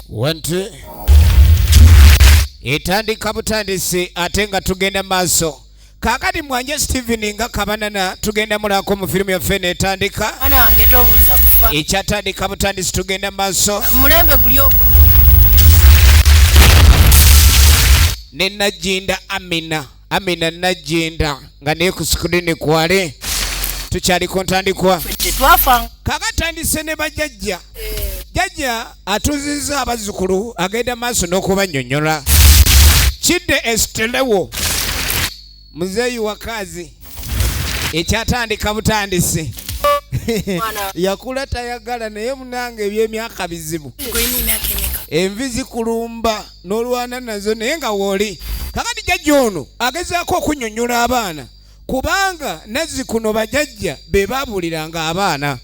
wanti etandika butandisi ate nga tugenda maaso kakati mwanje steven nga kabanana tugenda mulako mu firimu yaffe netandika ekyatandika butandisi tugenda maaso mulembe gulyoko ne najinda amina amina najinda nga naye ku sikulini kwale tukyali ku ntandikwa kakatandise ne bajajja eh. jajja atuzizza abazzukulu agenda maaso n'okubanyonyola kidde esitelewo muzeeyi wakaazi ekyatandika butandisi yakula tayagala naye munange ebyemyaka bizibu envi zikulumba n'olwana nazo naye nga wooli kakati jajja ono agezaako okunyonyola abaana kubanga nazzikuno bajajja be babuuliranga abaana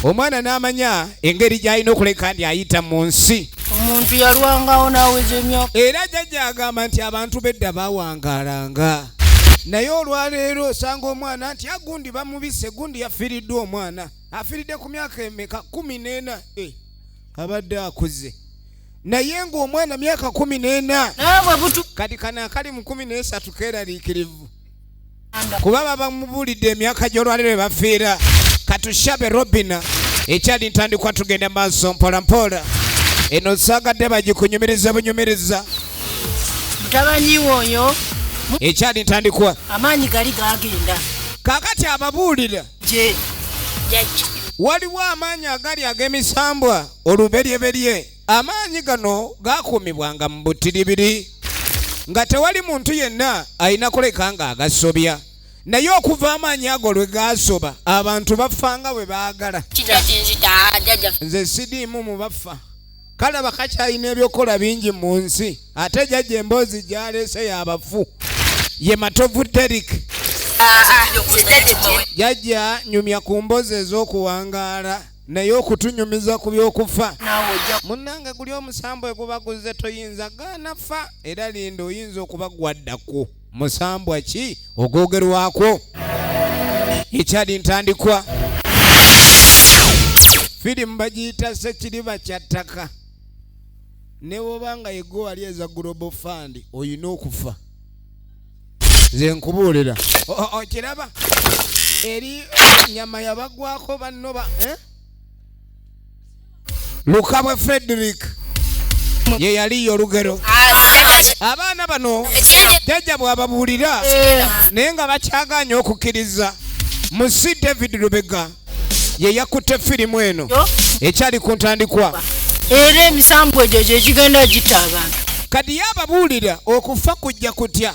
omwana n'amanya engeri gy'alina okuleka ndi ayita mu nsi omuntu yalwangawo n'aweza emyaka era jajja agamba nti abantu bedda bawangalanga naye olwaleero osanga omwana nti agundi ah, bamubise gundi yafiiriddwa omwana afiiridde ku myaka emeka kumi n'ena eh, abadde akuze naye ng'omwana myaka kumi n'ena kati kana akali mu kumi n'esatu keeraliikirivu kuba babamubulidde emyaka gy'olwaliro ebafiira katushabe robina ekyali ntandikwa tugenda maaso mpolampola eno saagadde bagikunyumiriza bunyumiriza mutabani woyo ekyali ntandikwa amaanyi gali gagenda kakati ababuulira gye jajja waliwo amaanyi agali ag'emisambwa oluberyeberye amaanyi gano gakuumibwanga mu butiribiri nga tewali muntu yenna alina kuleka nga agasobya naye okuva amaanyi ago lwe gaasoba abantu bafanga bwe baagala nze sidiimu mu bafa kalaba kakyalina ebyokukola bingi mu nsi ate jajja emboozi gyaleese yabafu ye matovu derik jajja nyumya ku mbozi ez'okuwangaala naye okutunyumiza ku by'okufa munnange guli omusambo eguba guzze toyinza gaanafa era linda oyinza okuba gwaddako musambwa ki ogwogerwako ekyali ntandikwa firimu bagiyita sekiriba kya ttaka ne woba nga yegwe wali eza global fund olina okufa nze nkubuulira okiraba eri nyama yabagwako bannoba eh? lukabwe frederick ye yaliyo olugero abaana bano jajja bwababuulira naye nga bakyaganye okukkiriza mu si david lubega ye yakutte firimu eno ekyali ku ntandikwa era emisambwa egyo gyegigenda gita abantu kadi yababuulira okufa kujja kutya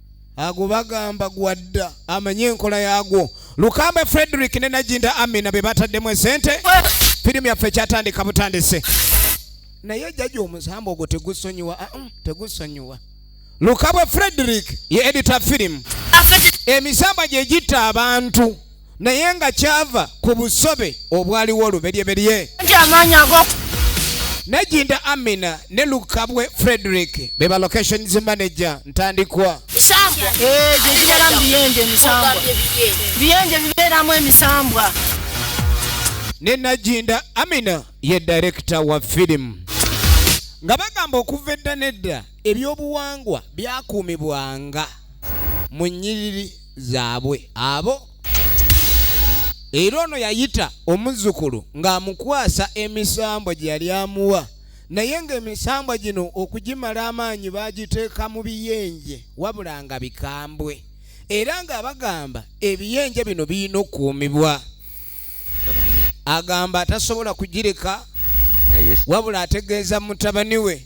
ago bagamba gwadda amanye enkola yagwo lukamba frederick ne najinda amina be bataddemu esente firimu yaffe ekyatandika butandise naye jaja omusambo ogwo tegusonyiwa ah, mm, tegusonyiwa lukabwe frederick ye edita firimu emisamba gye gitta abantu naye nga kyava ku busobe obwaliwo oluberyeberye nejinda amina ne lukabwe frederick beba locations manager ntandikwa eh, ne najinda amina ye director wa filimu nga bagamba okuva edda nedda ebyobuwangwa byakuumibwanga mu nyiriri zaabwe abo era ono yayita omuzzukulu ng'amukwasa emisambwa gye yali amuwa naye ng'emisambwa gino okugimala amaanyi baagiteeka mu biyenje wabula nga bikambwe era ng'abagamba ebiyenje bino birina okukuumibwa agamba atasobola kugireka wabula ategeeza mutabani we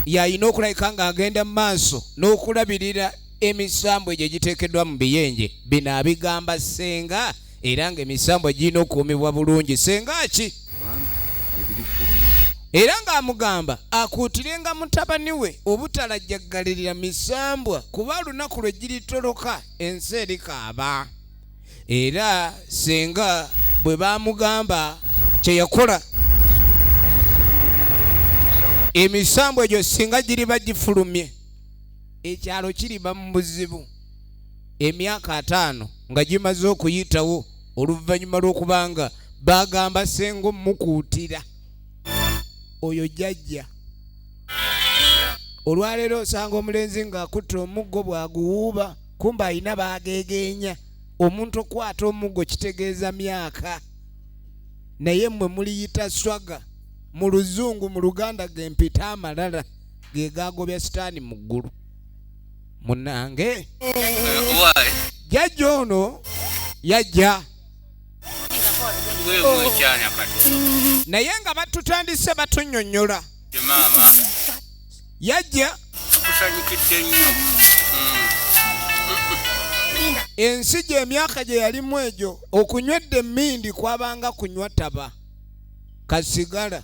yalina okulabika ng'agenda mu maaso n'okulabirira emisambwa egyo egiteekeddwa mu biyenje bino abigamba ssenga era nga emisambwa girina okuumibwa bulungi ssenga ki era ng'amugamba akuutirenga mutabani we obutalajjaggalirira misambwa kuba olunaku lwe giritoloka ensi erikaaba era ssenga bwe baamugamba kye yakola emisambwa egyo singa giriba gifulumye ekyalo kiriba mu buzibu emyaka ataano nga gimaze okuyitawo oluvannyuma lw'okubanga bagamba senga omukuutira oyo jjajja olwaleero osanga omulenzi ng'akutte omuggo bw'aguwuuba kumba alina baageegeenya omuntu okukwata omuggo kitegeeza myaka naye mmwe muliyita swaga mu luzungu mu luganda gempita amalala ge gaagobya sitaani mu ggulu munnange jajja ono yajja naye nga batutandise batunyonyola yajja kusanyukidde nnyo ensi gy'emyaka gye yalimu egyo okunywedde emmindi kwabanga kunywa taba kasigala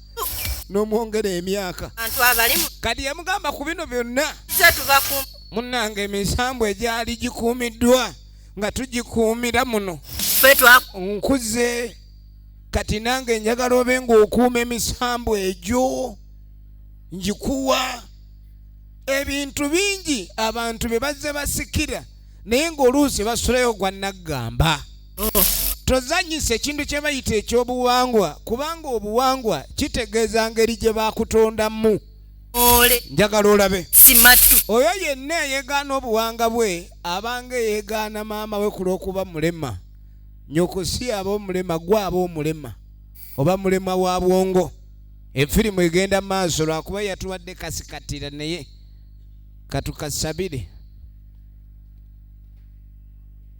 nomwongera emyaka kati yamugamba ku bino byonna munange emisambwa egyali gikuumiddwa nga tugikuumira muno nkuze kati nange njagala obe ngaokuuma emisambwa egyo ngikuwa ebintu bingi abantu bye bazze basikira naye ng'oluusi basulayo gwa naggamba tozanyisa ekintu kye bayita ekyobuwangwa kubanga obuwangwa kitegeeza ngeri gye bakutondamu njagala olabe oyo yenna eyegaana obuwanga bwe abanga eyegaana maama we ku lw'okuba mulema nyoko si aba omulema gwe aba omulema oba mulema wa bwongo efirimu egenda maaso lwakuba yatuwadde kasikatira naye katukasabire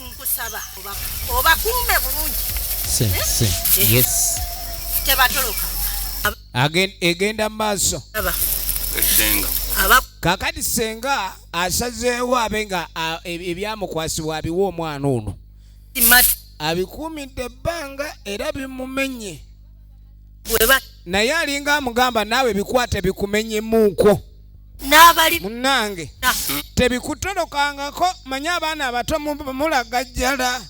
nkusaba obakuume bulungi eh? tebatoloka egenda mu maaso kakati senga asazeewo abe nga e, ebyamukwasibwa abiwa omwana ono abikuumidde ebbanga era bimumenye naye alinga amugamba naawe bikwate bikumenyemuuko munange tebikutolokangako manye abaana abato mulagajjala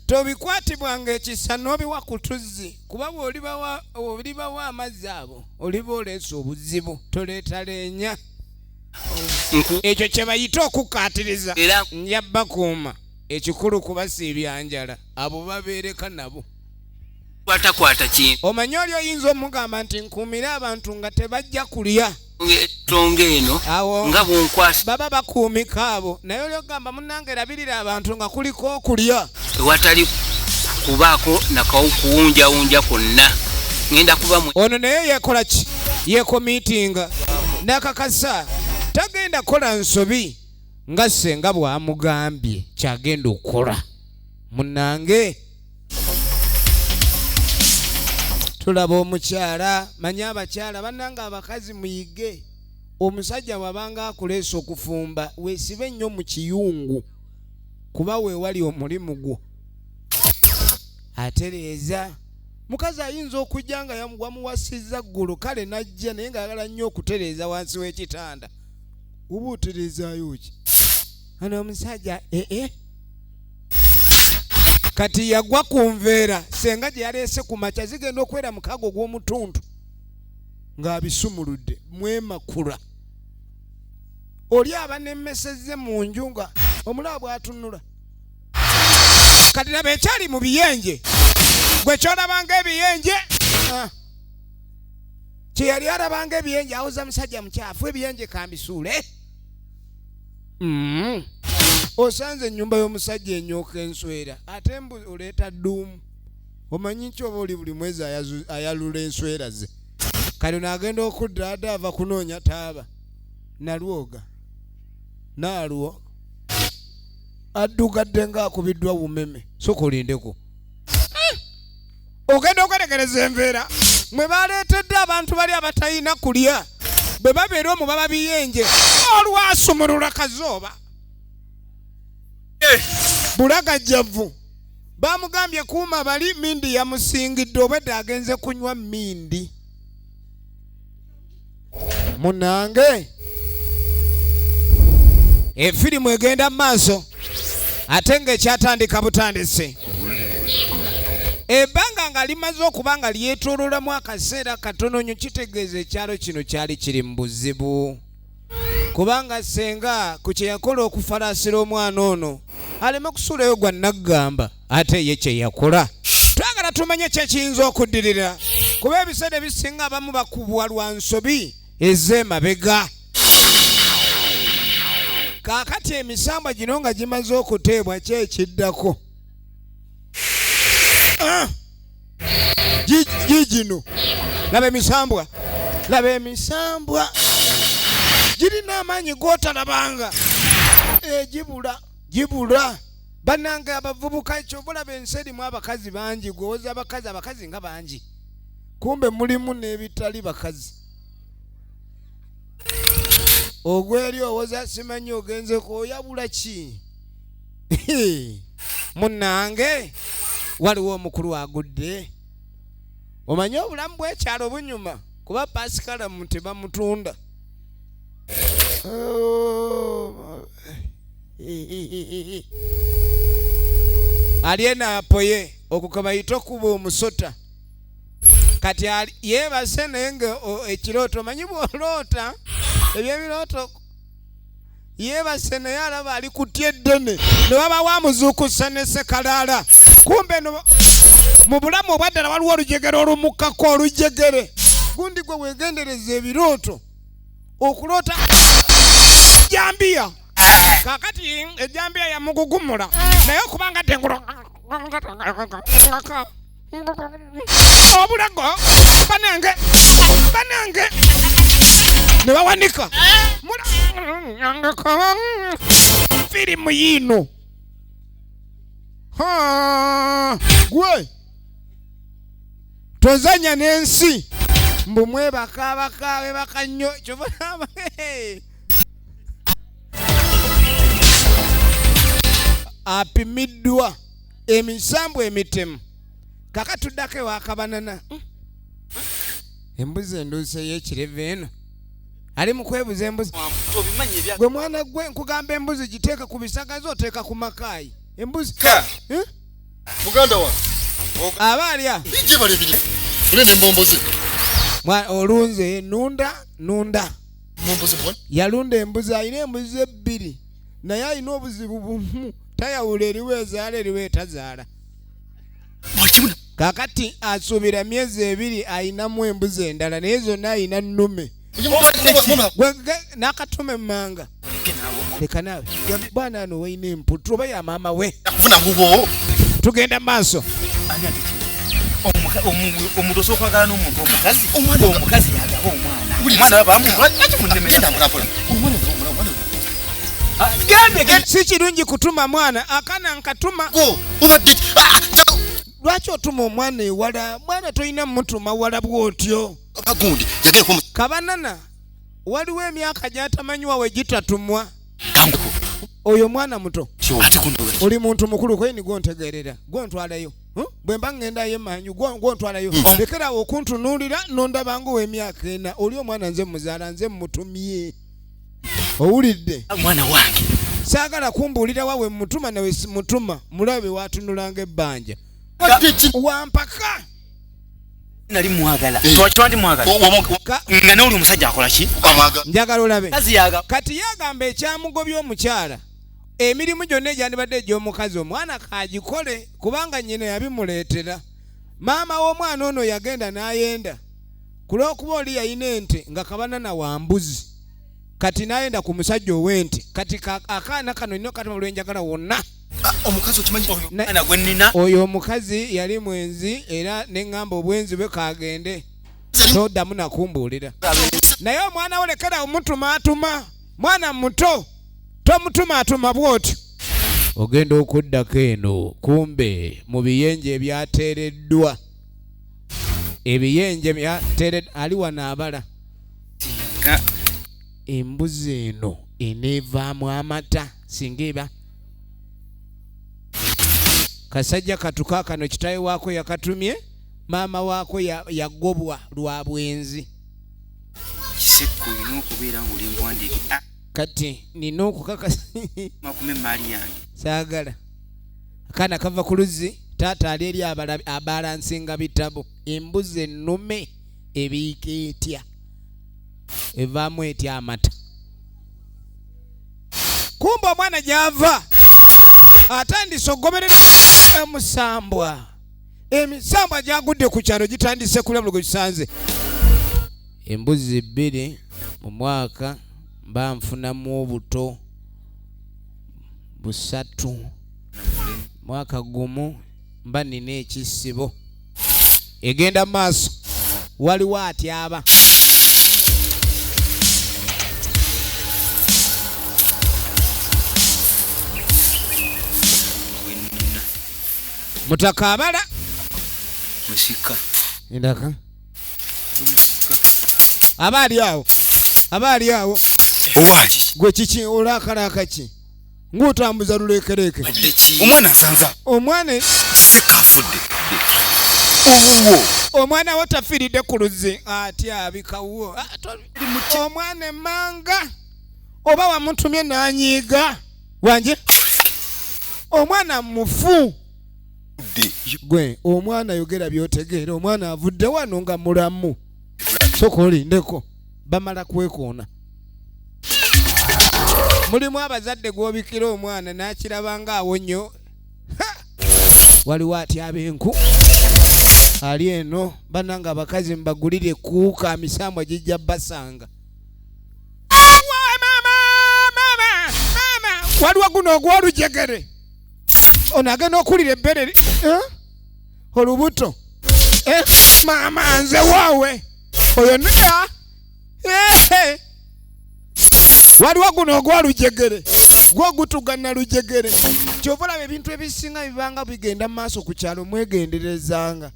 tobikwatibwanga ekisa n'obiwa ku tuzzi kuba bwolibawo amazzi abo oliba oleesa obuzibu toleeta leenya ekyo kye bayita okukkaatiriza njabbakuuma ekikulu kubasiibyanjala abo babeereka nabo kwatakwata kintu omanyi oli oyinza omugamba nti nkuumire abantu nga tebajja kulya etonga eno nga bunkwasa baba bakuumika abo naye oli okugamba munange erabirira abantu nga kuliko okulya ewatali kubaako nakawukuwunjawunja kwonna ŋenda kuba ono naye yekola ki yekomiitinga nakakasa tagenda kukola nsobi nga senga bwamugambye kyagenda okukola munange tulaba omukyala manya abakyala banange abakazi muyige omusajja wabanga akuleesa okufumba wesibe nnyo mu kiyungu kuba weewali omulimu gwo atereeza mukazi ayinza okujja nga wamuwasizza ggulu kale najja naye ngaagala nnyo okutereeza wansi w'ekitanda oba otereezaayo ki ana omusajja ee eh, eh. kati yagwa ku nveera senga gye yaleese ku makya zigenda okubeera mukago ogw'omutundu ng'abisumuludde mwemakula oli abanemesezze mu nju nga omulaba bwatunula kati laba ekyali mu biyenje gwe kyolabanga ebiyenje ah. kyeyali alabanga ebiyenje awoza musajja mukyafu ebiyenje kambisuule mm. osanze enyumba y'omusajja enyooka enswera ate mbu oleeta dduumu omanyi nti oba oli buli mwezi ayalula enswera ze kale naagenda okudda ada ava kunoonya taaba nalwoga naalwo addugadde ng'akubiddwa wumeme soka olindeko ogenda okwetegereza embeera mwe baleetedde abantu bali abatalina kulya bwe babeera omu baba biyenje olwasumulula kazooba eh. bulagajjavu bamugambye kuuma bali mindi yamusingidde obwedde agenze kunywa mindi munange efirimu egenda mu maaso ate ng'ekyatandika butandisi ebbanga nga limaze okuba nga lyetoololamu akaseera katono nyo kitegeeza ekyalo kino kyali kiri mu buzibu kubanga senga ku kye yakola okufalaasira omwana ono aleme kusuulayo gwa naggamba ate ye kye yakola twagala tumanye kyekiyinza okuddirira kuba ebiseera ebisinga abamu bakubwa lwa nsobi ez'emabega kaakati emisambwa gino nga gimaze okuteebwa kyekiddako ah! gigino laba emisambwa laba emisambwa girina amaanyi gotalabanga egibula eh, gibula banange abavubuka ekyo bulaba ensi erimu abakazi bangi gwewoza abakazi abakazi nga bangi kumbe mulimu n'ebitali bakazi ogweri owoza simanyi ogenze kwoyabula ki munange waliwo omukulu agudde omanyi obulamu bwekyalo bunyuma kuba pasikalamu tebamutunda ali eno apoye okukaba yita okuba omusota kati yeebase naye nga ekirooto omanyi bwoloota ebyebirooto yeebase naye alaba ali kutya eddene ne wabawo amuzuukusa ne sekalaala kumbe no mu bulamu obwaddala waliwo olujegere olumukkako olujegere gundi gwe weegendereza ebirooto okuloota ejambiya kakati ejambiya yamugugumula naye okubanga tengula obulago banange banange ne bawanika firimu yiino gwe tozanya n'ensi mbu mwebakabaka bebaka nnyo kyovaaba apimiddwa emisambwa emitemu kaka tuddako ewakabanana hmm. embuzi enduusi eyekireva eno ali mukwebuza embuzi gwe mwana gwe nkugamba embuzi giteeka ku bisagazi oteeka ku makaayi embuzi hmm? muganda wa aba alya olunze nunda nunda yalunda embuzi alina embuzi ebbiri naye alina obuzibu bumu tayawula eriwo ezaala eriwo etazaala kakati asuubira myezi ebiri ayinamu embuzi endala naye zonna ayina nnume nakatume mumanga leka nawe bwana ano wayina emputu oba ya maama we tugenda mu maaso omuntu osobola okwagala n'omuntu omukazi omukazi yagaba omwana omwana bamuwa lwaki munnemerera si kirungi kutuma mwana akana nkatuma ah, lwaki otuma omwana ewala mwana tolina mutuma wala bwotyo kabanana waliwo emyaka gyatamanyiwa we gitatumwa oyo mwana muto oli muntu mukulu kweni gwontegeerera gwontwalayo hm? bwe mba ŋŋendayo emanyu gwontwalayo hmm. lekerawo okuntunuulira nondabanga ow'emyaka ena oli omwana nze muzaala nze mutumye owulidde mwana wange saagala kumbuulira wawe mutuma nawe simutuma mulabe watunulanga ebbanja wampaka nali mwagala eh. twakibandi mwagalanga noli omusajja akolaki njagala olabe kati yagamba ekyamugobya omukyala emirimu gyonna egyandibadde egy'omukazi omwana kagikole kubanga nyina yabimuleetera maama w'omwana ono yagenda n'ayenda ku lw'okuba oli yalina ente nga kabanana wa mbuzi kati nayenda ku musajja ow'ente kati akaana kano nina okatuma lwenjagala wonna ah, oyo omukazi yali mwenzi era neŋŋamba obwenzi bwe kagende toddamu nakumbuulira naye omwana wo lekera omutumaatuma mwana muto tomutumaatuma bw'otyo ogenda okuddako eno kumbe mu biyenje ebyateereddwa ebiyenje byatere ali wano abala embuzi eno eneevaamu amata singa eba kasajja katuka kano kitawe waako yakatumye maama waako yagobwa lwa bwenzi kisekko olina okubeera ngaoli muwandiike ah. kati nina okukakasa makume emaali yange saagala akaana kava ku luzzi taata ali eri abalansinga bitabo embuzi ennume ebiika etya evaamu etya amata kumba omwana gyava atandise okugoberera emusambwa emisambwa gyagudde ku kyalo gitandise kulabula gwe kisanze embuzi bbiri mu mwaka mba nfunamu obuto busatu mwaka gumu mba nina ekisibo egenda maaso waliwo atyaba mutaka abala musika ndaka aba ali awo aba ali awo gwe kiki olakalaaka ki ng'otambuza luleekereeke omwana nsanza omwana sekafudde owuwo omwana wo tafiiridde ku luzzi ati abikawuwo ah, omwana emmanga oba wamutumye n'anyiiga wangi omwana mufu gwe omwana yogera byotegeera omwana avudde wano nga mulamu soka olindeko bamala kwekoona mulimu abazadde gwobikira omwana nakiraba nga awo nnyo waliwo atyaba enku ali eno bananga abakazi mbagulire kuuka misambwa gijja basanga waliwo guno ogwolujegere ono agenda okuwulira ebbere eh? olubuto eh? maama nze waawe oyo nea eh, waliwo guno ogwa lujegere gwo gutugana lujegere kyova olaba ebintu ebisinga bibanga bigenda mu maaso ku kyalo mwegenderezanga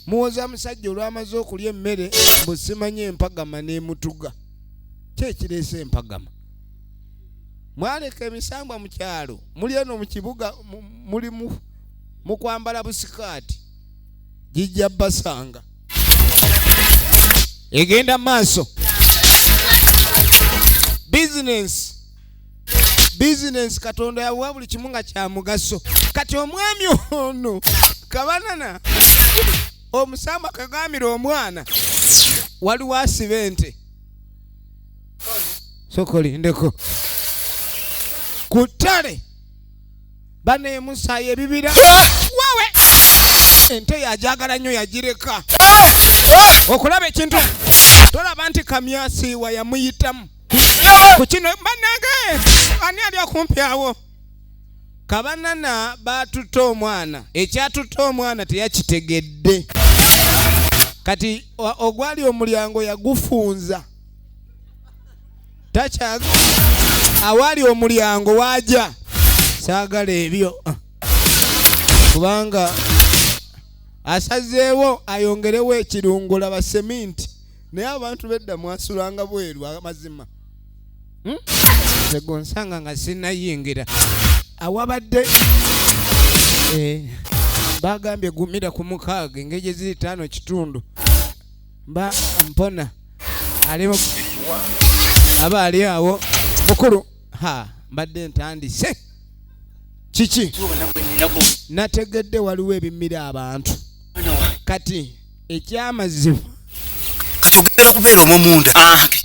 muwoza musajja olwamaze okulya emmere mbusimanya empagama n'emutuga kyekireese empagama mwaleka emisambwa mu kyalo muli eno mu kibuga muli mu kwambala busikaati gijja basanga egenda maaso bizinensi bizinensi katonda yawa buli kimu nga kya mugaso kati omwami ono kabanana omusamba kagambira omwana waliwo asiba ente soka olindeko ku ttale baneemusaayo ebibira wawe ente yajagala nnyo yagireka okulaba ekintu tolaba nti kamyasiiwa yamuyitamu ku kino banange ani ali okumpi awo kabanana baatutte omwana ekyatutte omwana teyakitegedde kati ogwali omulyango yagufunza takyaga awali omulyango waja saagala ebyo ah. kubanga asazeewo ayongerewo ekirungo laba seminti naye abantu bedda mwasulanga bweru amazima hmm? zegonsanga nga sinayingira awabadde eh, bagambye gumira ku mukaaga engeri gyeziri taano kitundu mba mpona ali aba ali awo mukulu ha mbadde ntandise kiki nategedde waliwo ebimira abantu kati ekyamazima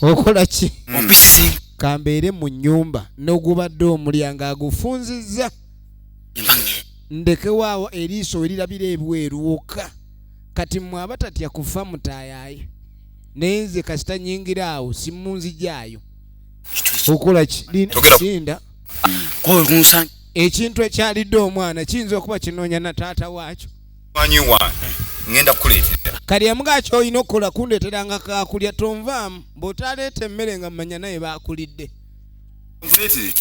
okola ki kambeere mu nyumba nogubadde omulyango agufunzizza ndekewaawo eriiso erirabira ebweru wokka kati mwe abatatya kufa mutayaye naye nze kasita nyingira awo simunzijaayo okola kilinda ekintu ekyalidde omwana kiyinza okuba kinoonya na taata waakyo kalyamuga ki olina okukola kundeeteranga kakulya tonvaamu bw'otaleeta emmere nga mumanya naye baakulidde Completely.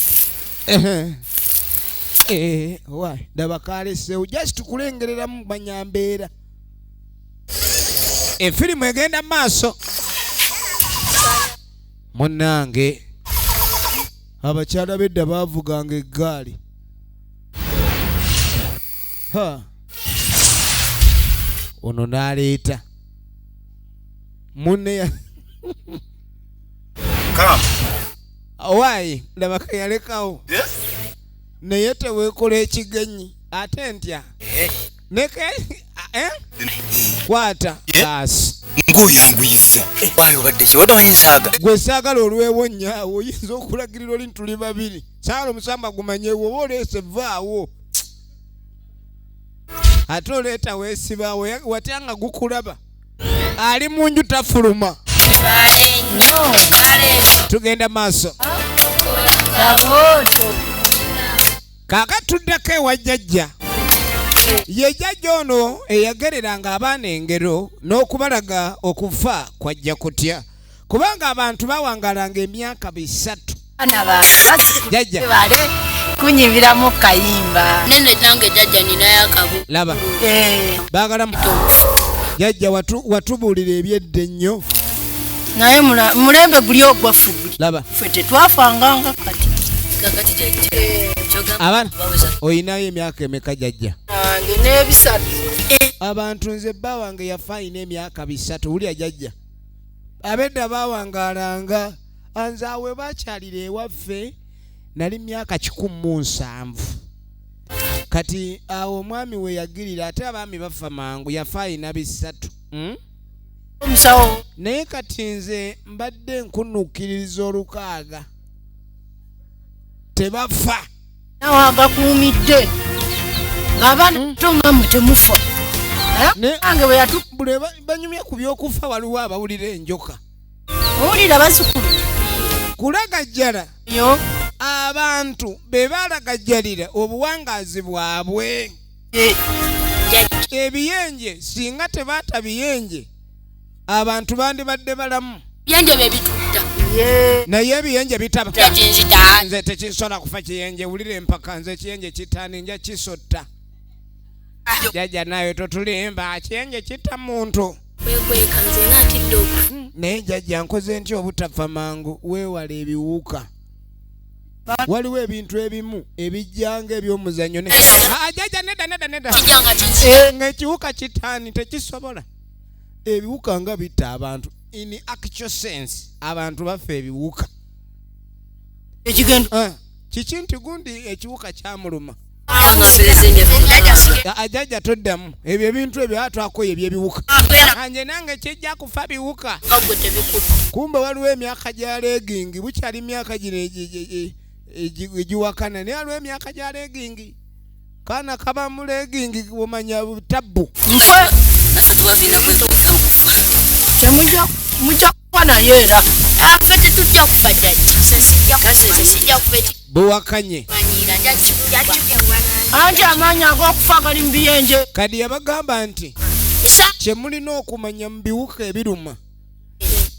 Ehe. Eh, wa ndaba kalesewo just tukulengereramu kumanya mbeera efirimu egenda mu maaso munnange abakyala bedda baavuganga eggaali ha ono n'aleeta munne ya- owaayi laba keyalekawo naye tewekola ekigenyi ate ntya eh? eh? kwata baasi ngaoyanguyiza wali obadde kiwade manyi nsaaga gwe saagala olwewo nyaawo oyinza okulagirira oli ntuli babiri saala omusamba gumanye woba oleese vaawo ate oleeta weesibaawo watya nga gukulaba ali mu nju tafuluma tugenda maaso kaka tuddako ewa jjajja ye jjajja ono eyagereranga abaana engero n'okubalaga okufa kwajja kutya kubanga abantu bawangalanga emyaka bisatu jajja kunyimbiramu kayimba nene nange jajja ninayo akabu laba eh. bagala jajja watubuulira ebyedda ennyo naye mulembe guli ogwaffe laba fe tetwafanganga kati kakati jajja abana olinayo emyaka emeka jajja abantu nze bba wange yafa alina emyaka bisatu wulya jajja abedda baawangaalanga anze awe bakyalira ewaffe nali myaka kikumi mu nsanvu kati awo omwami we yagirira ate abaami bafa mangu yafa alina bisatu hmm? omusawo naye kati nze mbadde nkunukkiririza olukaaga tebafa nawe agakuumidde ng'abaana hmm. to nga mwe temufa nange bwe yatubule banyumya ku by'okufa waliwo abawulira enjoka owulira basukulu kulagajjala yo abantu be balagajjalira obuwangaazi bwabwe eh. ebiyenje singa tebaata biyenje abantu bandibadde balamu byenje bebitudda naye ebiyenje bitaba nze tekisobola kufa kiyenje wulira empaka nze ekiyenje kitani nja kisotta jajja nayo totulimba kiyenje kita muntu kwekweka nze natidde oku hmm, naye jajja nkoze nti obutafa mangu weewala ebiwuka waliwo ebintu ebimu ebijjanga ebyomuzanyo ne ajaja ah, neda neda neda eh, ngaekiwuka kitani tekisobola ebiwuka nga bitta abantu in actual sense abantu baffe ebiwuka ekigendo eh, kiki nti gundi ekiwuka kyamuluma ajaja toddamu ebyo ebintu ebyo atwakoyo ebyebiwuka anje nange kijja kufa biwuka kumbe waliwo emyaka gya legingi bukyali myaka gino egiwakana naye waliwo emyaka gya legingi kana kaba mulegingi omanya tabbu mujja kuba nayo era bwewakanye anti amaanyi ag'okufa gali mu biyenje kadi yabagamba nti kyemulina okumanya mu biwuka ebiruma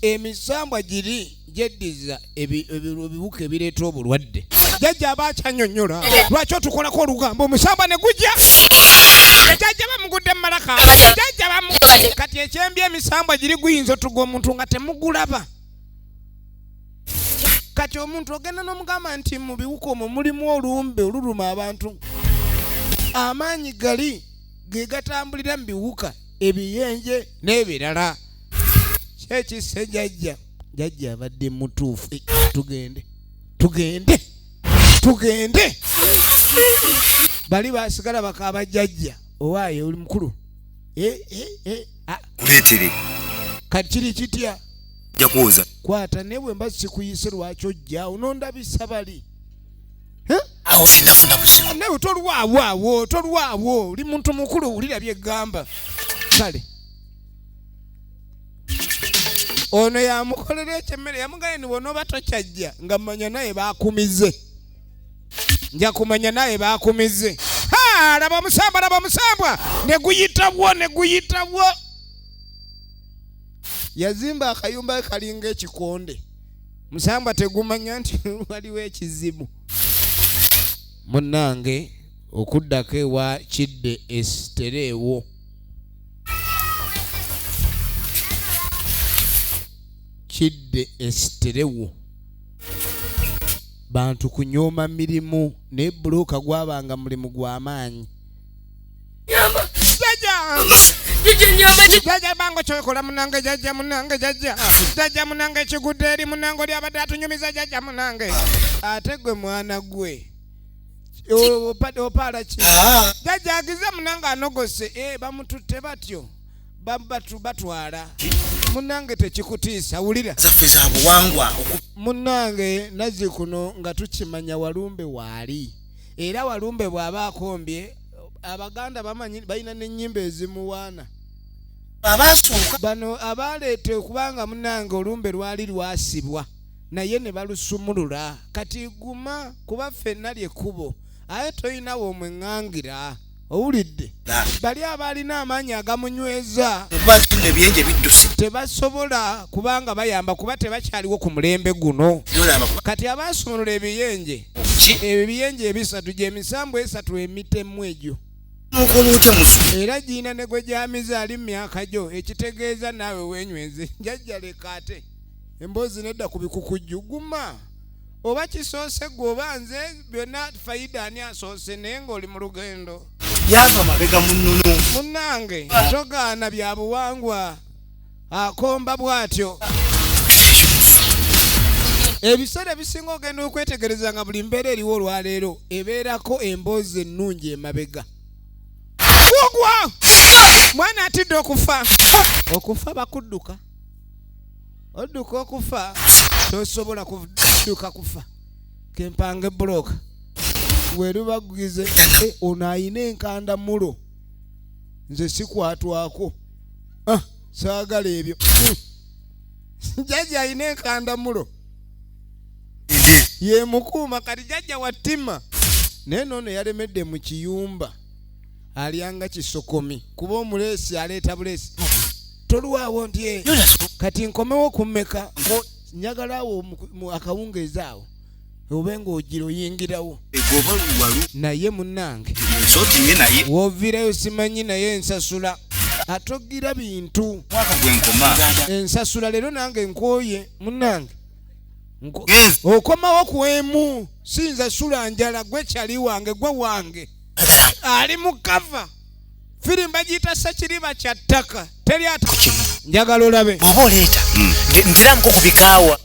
emisambwa giri gyeddiza ebiwuka ebireeta obulwadde jajja aba akyanyonyola lwaki otukolako olugambo omusambwa ne gujja jajja bamugudde mumalaka jajja bamu kati ekyembi emisambwa giri guyinza otuga omuntu nga temugulaba kati omuntu ogenda n'omugamba nti mu biwuka omwo mulimu olumbe oluluma abantu amaanyi gali ge gatambulira mu biwuka ebiyenje n'ebirala kyekisse jajja jajja abadde mutuufu eh, tugende tugende tugende bali basigala bakaaba jajja owaaye oli mukulu eh, eh, ah. kati kiri kitya jakuuza kwata naye bwe mba sikuyise lwaki ojja onondabisa bali Eh? awo sinafuna buzibu nawe tolwawo awo tolwawo oli muntu mukulu wulira byegamba kale ono yamukolera ekyemmere yamugane ni bwonoba tokyajja nga manya naye bakumize nja kumanya naye bakumize laba omusambwa laba omusambwa neguyitawo neguyitawo yazimba akayumba kalinga ekikonde musamba tegumanya nti waliwo ekizibu munnange okuddako ewa kidde esitereewo kidde esiterewo bantu kunyooma mirimu naye bbulooka gwabanga mulimu gw'amaanyi Nyamba. Jaja. Jaja nyamba. Jaja bango chokola munange jaja munange jaja. Jaja munange chigudde eri munange oli abadde atunyumiza jaja munange. Ate gwe mwana gwe. Opade opala ki. Ah. Jaja agize munange anogose eh bamututte batyo. Batu batwala. Munange tekikutiisa wulira. Zaffe za buwangwa. Munange nazikuno nga tukimanya walumbe wali. era walumbe bw'aba akombye abaganda bamanyi balina n'ennyimba ezimuwaana abasooka bano abaaleeta okubanga munange olumbe lwali lwasibwa naye ne balusumulula kati guma kuba ffenna lyekkubo aye tolinawo omweŋŋangira owulidde bali abaalina amaanyi agamunyweza tebasobola kubanga bayamba kuba tebakyaliwo ku mulembe guno kati abaasumulula ebiyenje ebyo biyenje ebisatu gyemisambu esatu emitemu egyo era giina ne gwe gyamize ali mu myaka gyo ekitegeeza naawe wenyweze njajjalekaate emboozi nedda ku bikukujju guma oba kisoose gwe oba nze byonna fayida ani asoose naye ng'oli mu lugendo yava mabega munono munange togaana bya buwangwa akomba bw'atyo ebiseera ebisinga ogenda okwetegereza nga buli mbeera eriwo olwaleero ebeerako emboozi ennungi emabega kugwa mwana atidde okufa okufa bakudduka odduka okufa tosobola kudduka kufa kempange buloka werubagugize eh, ono ayina enkanda mulo nze sikwatwako ah, saagala ebyo hmm. jajja ayina enkanda mulo yemukuuma kati jajja wattima naye noono yalemedde mu kiyumba alyanga kisokomi kuba omuleesi aleeta buleesi tolwawo ndye kati nkomewo kummeka njagala awo akawungeezi awo obe ng'ogira oyingirawo naye munnange woviirayo simanyi naye ensasula atogira bintu ensasula leero nange nkooye munnange okomawo ku emu siyinza sula njala gwe kyali wange gwe wange ali mu kava firimu bagiyita sekiriba kya ttaka teri ata njagala olabe oba oleeta hmm. ntiramuko ku bikaawa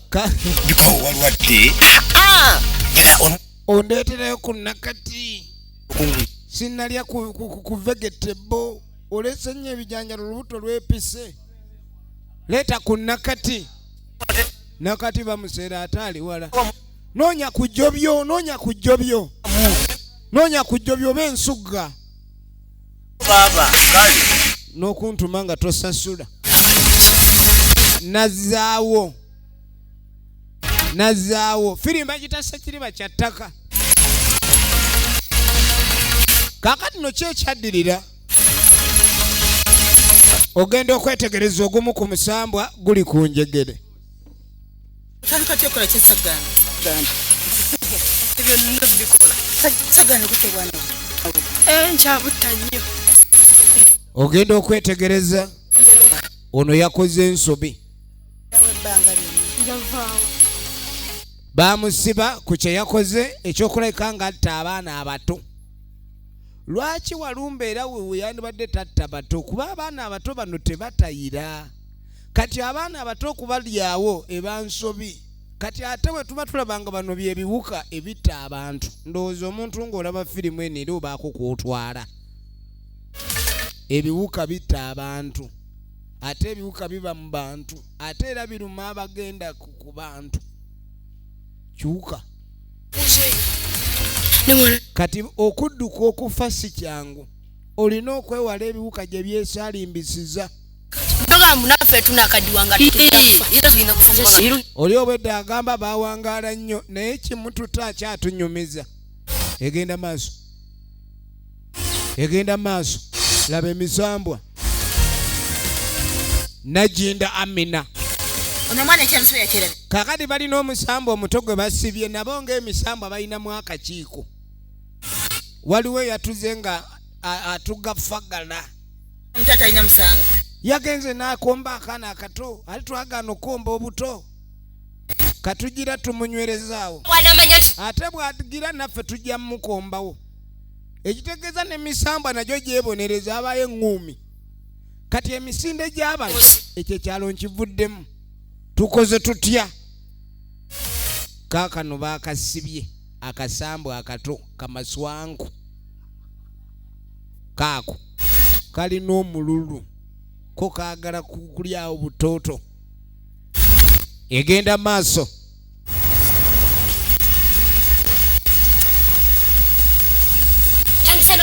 bikaawa walwadde ah, ah! ondeeterayo ku nakati sinalya ku vegetebo oleese nnyo ebijanjalo olubuto lwepise leeta ku nakati nakati bamuseera ate ali wala noonya kujjobyo noonya kujjobyo noonya kujjobyo oba ensugga n'okuntuma nga tosasula nazaawo nazaawo firimba kitasa kiriba kya ttaka kakati no ki ekyaddirira ogenda okwetegereza ogumu ku musambwa guli ku njegere otandika ty okola kyesagaana ebyo nina bikola sagaana gute bwana eh, nkyabutta nnyo ogenda okwetegereza ono yakoze ensobi bamusiba ku kyeyakoze ekyokulabika nga atta abaana abato lwaki walumba era weyandibadde tatta bato kuba abaana abato bano tebatayira kati abaana abato okubalyawo ebansobi kati ate bwe tuba tulaba nga bano byebiwuka ebitta abantu ndowooza omuntu ng'olaba firimu eno era obaako kwotwala ebiwuka bitta abantu ate ebiwuka biba mu bantu ate era biruma abagenda ku bantu kiwuka kati okudduka okufa si kyangu olina okwewala ebiwuka gye byesalimbisiza Ndoga munafe tunakadiwa nga tukijafa. Yero zina kufuka. Oli obwedda agamba bawangaala nnyo naye kimututa akyatunyumiza. Egenda maaso. Egenda maaso. Laba emisambwa. Najinda Amina. Ono mwana ekyamusibe yakira. Kakati balina omusambwa omuto gwe basibye nabo ng'emisambwa balina mu akakiiko. Waliwo eyatuze nga atugafagala. yagenze n'akomba akaana akato ali twagaana okukomba obuto katugira tumunywerezaawo ate bwatugira naffe tujja mumukombawo ekitegeeza nemisambwa nagyo gyebonereza abayo eŋŋuumi kati emisinde gy'abantu ekyo ekyalo nkivuddemu tukoze tutya kaakano baakasibye akasambwa akato kamaswanku kaako kalina omululu ko kaagala kulyawo butooto egenda maaso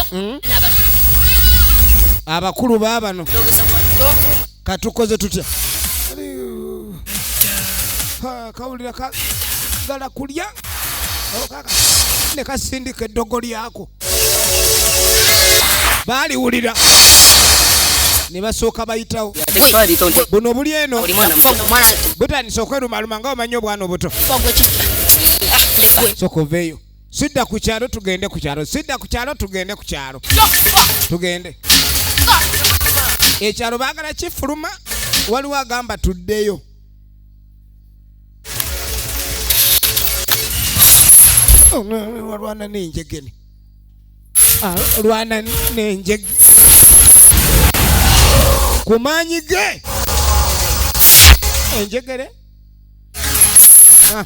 hmm? abakulu baabano katukoze tutya kawulira kagala kulya ne kasindika eddogo lyako baaliwulira ne basooka bayitawo buno buli eno butandise okwerumaluma nga omanyi obwana obuto soka oveeyo sidda ku kyalo tugende ku kyalo sidda ku kyalo tugende ku kyalo tugende ekyalo baagala kifuluma waliwo agamba tuddeyo olwana nenjegene olwana nenjege ku maanyi ge enjegere ah.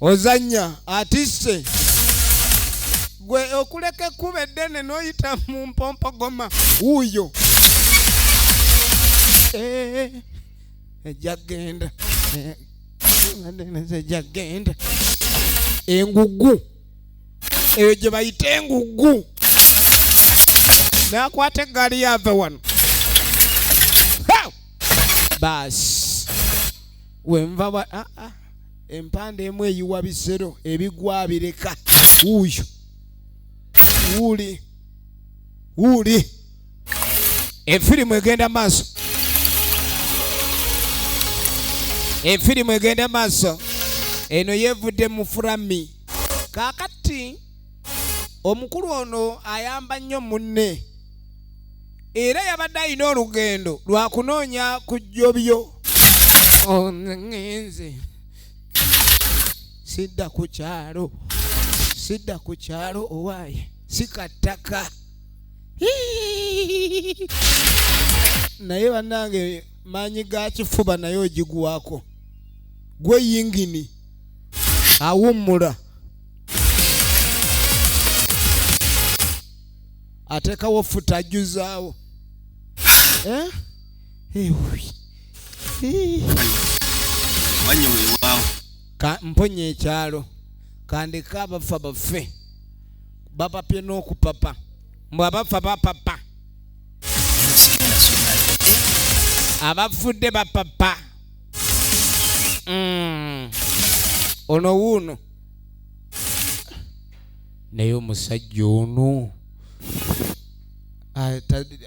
ozanya atisse gwe okuleka ekkuba eddene n'oyita mu mpompogoma wuuyo eh, ejja genda eh, ejja genda engugu eyo gye bayita engugu nakwata eggaali yave wano baasi wenva ah, ah. empande emu eyiwa bizero ebigwa bireka wuuyo wuuli wuuli efirimu egenda maaso efirimu egenda maaso eno yevudde mu furami kakati omukulu ono ayamba nnyo munne era yabadde alina olugendo lwa kunoonya ku jjobyo onenze sidda ku kyalo sidda ku kyalo owaaye sikattaka naye bannange maanyi ga kifuba naye ogigwako gwe yingini awummula atekawo futa ajuzaawo eh? mponya ekyalo kandika abafa bafe bapapye n'okupapa mbu abafa bapapa abafudde bapapa mm. ono wuuno naye omusajja ono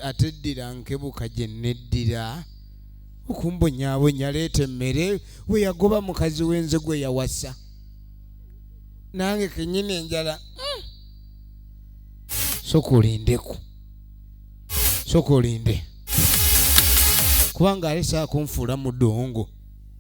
ateddira nkebuka gye neddira okumbonyabonya leeta emmere we yagoba mukazi wenze gwe yawasa nange kenyini enjala hmm. soka olindeku soka olinde kubanga alesaa kunfuula mudongo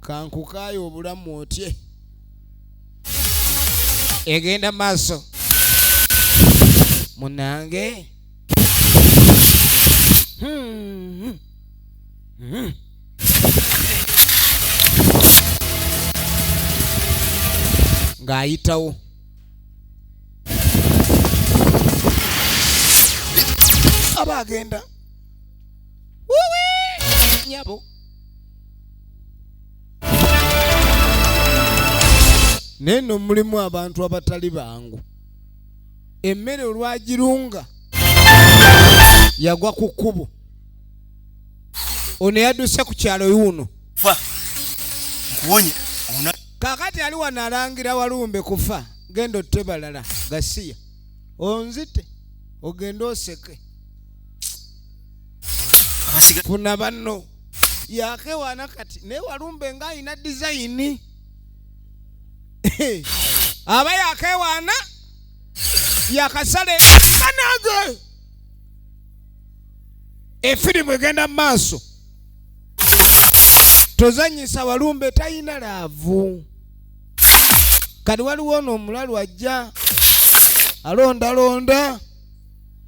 kankukaaye obulamu otye egenda maaso munange hmm. Hmm. ng'ayitawo aba agenda nyabo naye no mulimu abantu abatali bangu emmere olwagirunga yagwa ku kkubo ono yadduse ku kyalo yuuno kakati ali wano alangira walumbe kufa genda otte balala gasiya onzite ogende oseke funa banno yakewaana kati naye walumbe nga alina dizayini aba yakewaana yakasala ekanage efirimu egenda mu maaso tozanyisa walumbe talina laavu kati waliwo ono omulalu ajja alondalonda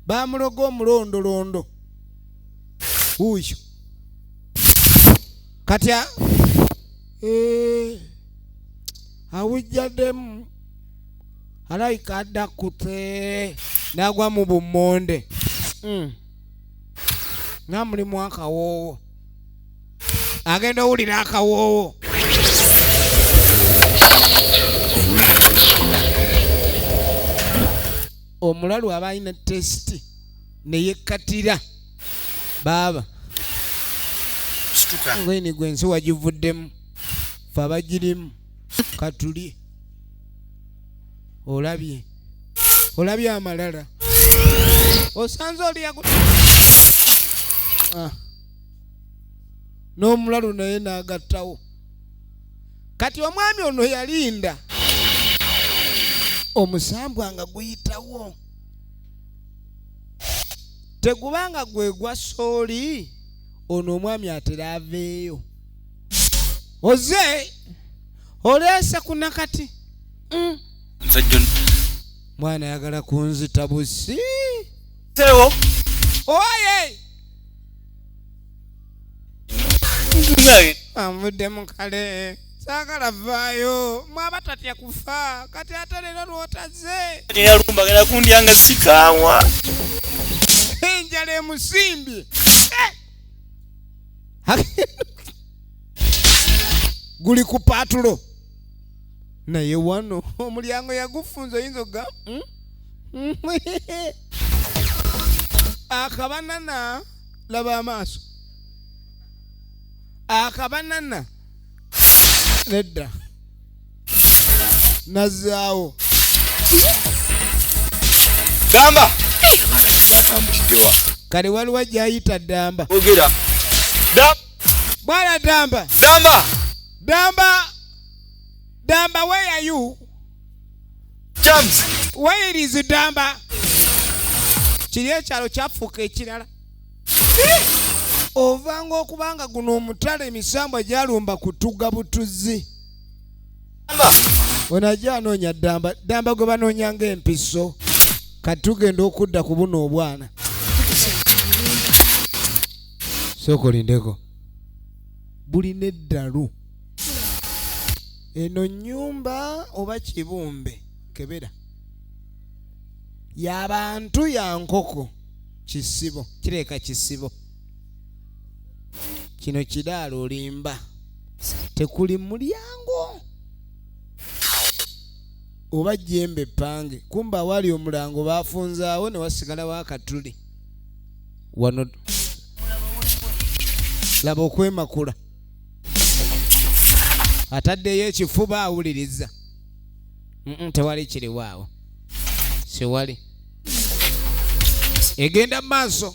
baamuloga omulondolondo wuuyo kati eh, awujjaddemu alayika adda kute n'agwa mu bummonde hmm. nga mulimu akawoowo agenda owulira akawoowo omulalu aba alina tesiti neyekkatira baaba ngeni gwe ensi wagivuddemu fe abagirimu katuli olabye olabye amalala osanze oliyaku ah. n'omulalu naye n'agattawo kati omwami ono yalinda omusambwa nga guyitawo tegubanga gwe gwa sooli ono omwami atera aveeyo oze oleese ku nakati mm. mwana ayagala kunzita busi oye anvuddemu kale saagala vaayo mwaba tatya kufa kati ate leero lwotaze yalumbagala kundya nga sikaawa enjala emusimbye eh! guli ku paatulo naye wano omulyango yagufunza oyinza oga hmm? akabanana laba amaaso akabanana nedda nazaawo gamba kale waliwo ajayita damba ogera bwana damba damba damba damba where are you Jams. Where is Damba? Kiri ekyalo kyafuuka ekirala. Ovanga okubanga guno omutala emisambwa gyalumba kutuga butuzi. Ono ajja anoonya Damba. Damba gwe banoonya ng'empiso. Kati tugenda okudda ku buno obwana. Sooka olindeko. Buli n'eddalu. eno nyumba oba kibumbe kebera yabantu yankoko kisibo kireka kisibo kino kidaala olimba tekuli mulyango oba jembe epange kumba awali omulango bafunzaawo newasigalawo akatuli wano laba okwemakula ataddeyo ekifuba awuliriza tewali kiriwaawo siwali egenda mu maaso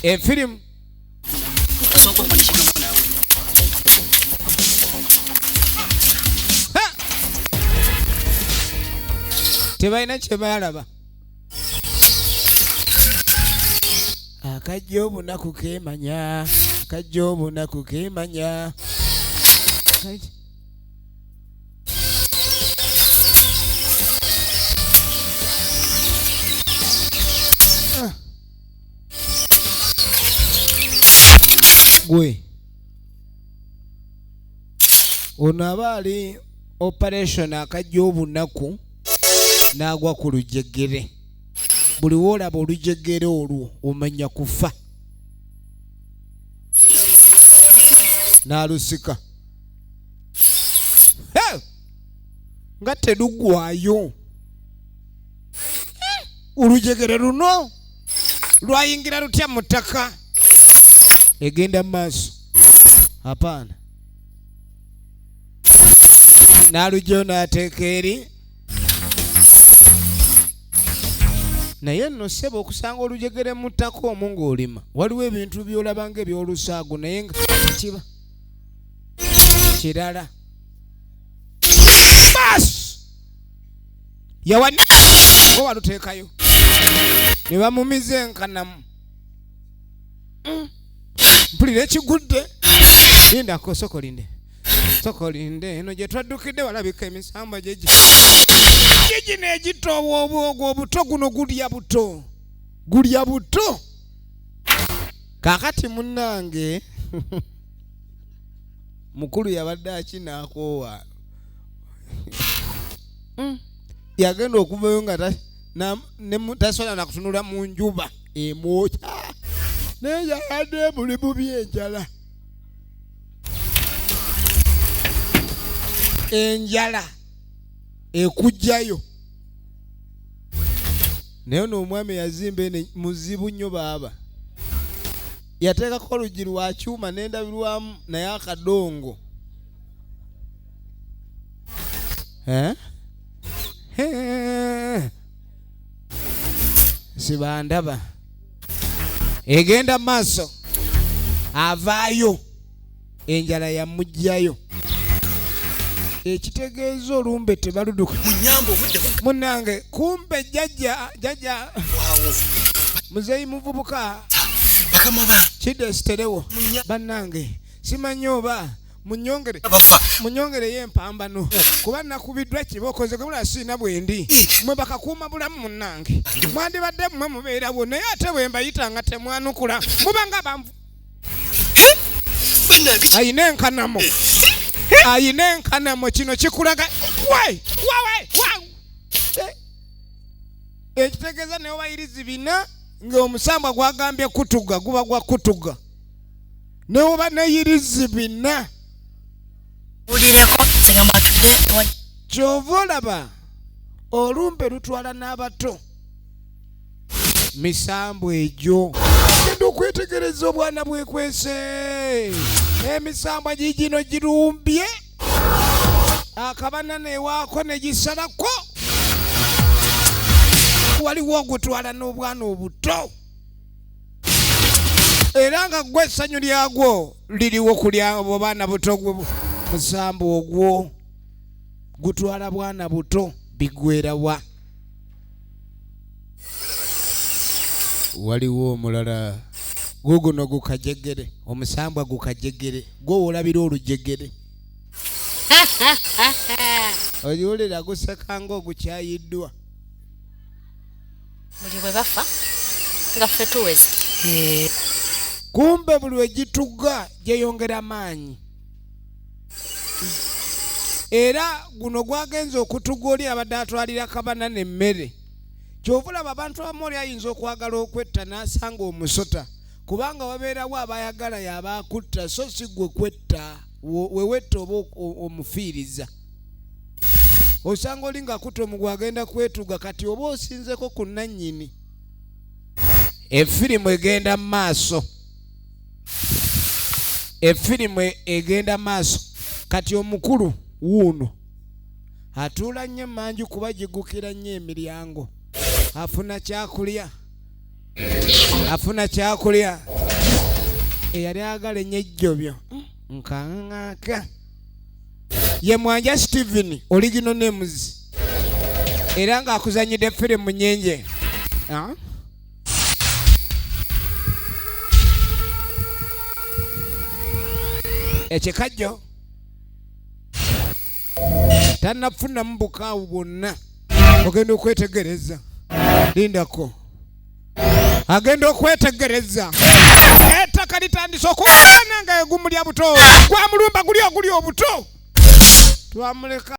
efirimu tebalina kyebalaba akajja obunaku kemanya akajja obunaku kemanya Kati- Ah. gwe ono aba ali operation akajja obunaku n'agwa ku lujegere buli woolaba olujegere olwo omanya kufa n'alusika nga telugwayo olujegere luno lwayingira lutya mu ttaka egenda mu maaso apaana n'alugyo n'ateeka eri naye nno ssebo okusanga olujegere mu ttaka omu ng'olima waliwo ebintu by'olaba nga ebyolusaago naye nga kiba kirala bas yawa oba waluteekayo ne bamumiza enkanamu mpulira ekigudde linda kosoko linde soko linde eno gye twaddukidde walabika emisambwa gyegi gyegino egito obwobwogo obuto guno gulya buto gulya buto kakati munnange mukulu yabadde akinaakoowa hmm. yagenda okuvayo nga tasobola nakutunula mu njuba emwokya naye yabadde muli mu byenjala enjala ekujjayo naye ono omwami yazimba ene muzibu nnyo baaba yateekako oluggi lwa kyuma n'endabirwamu naye akadongo eh? sibandaba egenda mu maaso avaayo enjala yamugjayo ekitegeeza olumbe tebaluduka munange kumbe jajja jajja muzeyi muvubuka kidesiterewo bannange simanyi oba munyongere munyongereyo empambano kuba nakubiddwa kiba okoze gwe mulala siina bwendi mwe bakakuuma bulamu munnange mwandibadde mmwe mubeerawo naye ate bwe mbayita nga temwanukula muba nga banvu ayina enkanamo ayina enkanamo kino kikulaga wai wawai eh, ekitegeeza neobayirizi bina ng'omusambwa gwagambye kutuga guba gwa kutuga newoba neyirizi bina kyova olaba olumbe lutwala n'abato misambu egyo genda okwetegereza obwana bwekwese emisambwa gigino girumbye akabana newaako negisalako waliwo ogutwala n'obwana obuto era nga gwe essanyu lyagwo liriwo kulya abo baana buto gwe musamba ogwo gutwala bwana buto bigwerawa waliwo omulala guguno gukajegere omusambwa gukajegere gwowolabira olujegere oyiwulira gusekanga ogukyayiddwa buli bwe bafa nga ffe tuweze eh. kumbe buli we gitugga gyeyongera maanyi era guno gwagenza okutuga oli abadde atwalira kabana nemmere kyovulaba abantu abamu oli ayinza okwagala okwetta n'asanga omusota kubanga wabeerawo abayagala yabaakutta so si gwe kwetta wewetta oba omufiiriza osanga oli nga kuto mugwe agenda kwetuga kati oba osinzeko ku nannyini efirimu egenda mu maaso efirimu egenda mu maaso kati omukulu wuuno atuula nnyo emanju kuba gigukira nnyo emiryango afuna kyakulya afuna kyakulya eyali agala enyo ejjobyo hmm, nkaŋaaka ye mwanja steven oligino nemuzi era ng'akuzanyidde firimu nyingi ah? ekikajjo tanafunamu bukaawu bwonna ogenda okwetegereza lindako agenda okwetegereza ettaka litandise okuwaana nga egumulya buto gwa mulumba guli oguli obuto twamuleka